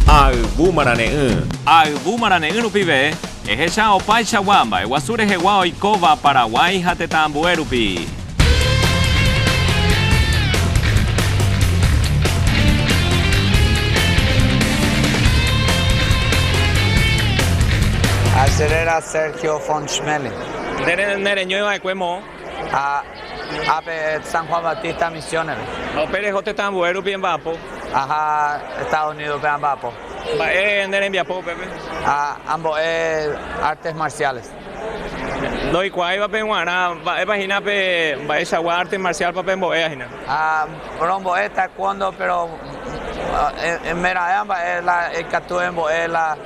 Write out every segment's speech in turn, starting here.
Ha ayvu marane'ỹ. Ha ayvu marane'ỹ rupive, ehecha opaichagua mba'eguasu rehegua oikóva Paraguái ha tetã ambue rupi. Acerera Sergio von Schmeling. Nde reñoiva'ekue moõ. Ha ápe San Juan Bautista misiónere. Ha upe reho tetã ambue rupi emba'apo. Aha Estados Unidos pe amba'apo. Mba'e ne rembiapo upépe? Ha ambo'e artes marciales. Ndoikuaáiva pe guarã, mba'épa hína pe mba'eichagua arte marcial-pa pe mbo'éva hína? Ha rombo'e taekwondo, péro emera'ỹva mba'e la ikatu embo'e la.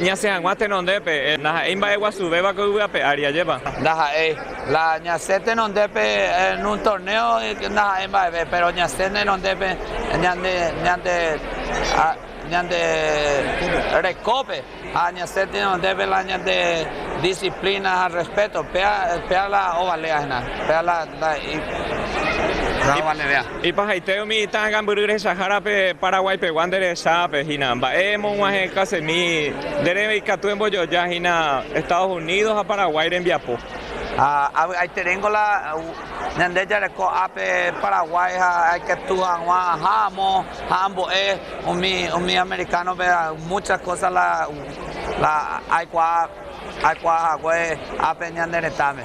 Ñasẽ hag̃ua tenondépe. Ndaha'éi mba'e guasuvéva ko yvy ape ári, ajépa? Ndaha'éi. La ñasẽ tenondépe en un torneo ndaha'éi mba'eve, péro ñasẽ tenondépe ñande rekópe ha ñasẽ tenondépe la ñande disiplína ha rrespéto. Péa la ovaléahina, péa la ovalérea. Ipahaite umi ita'ã gambyry rehechahárape Paraguái pegua nde rehesápe hína. Mba'e emog̃uahẽkasemi nderéve ikatu embojoja hína Estados Unidos ha Paraguái rembiapo. Ha avy'aiteréngo la ñande jareko ápe Paraguái ha aikatu hag̃ua aha amo ha ambo'e umi amerikánope muchas cosas la aikuaa aikuaa hague ápe ñane retãme.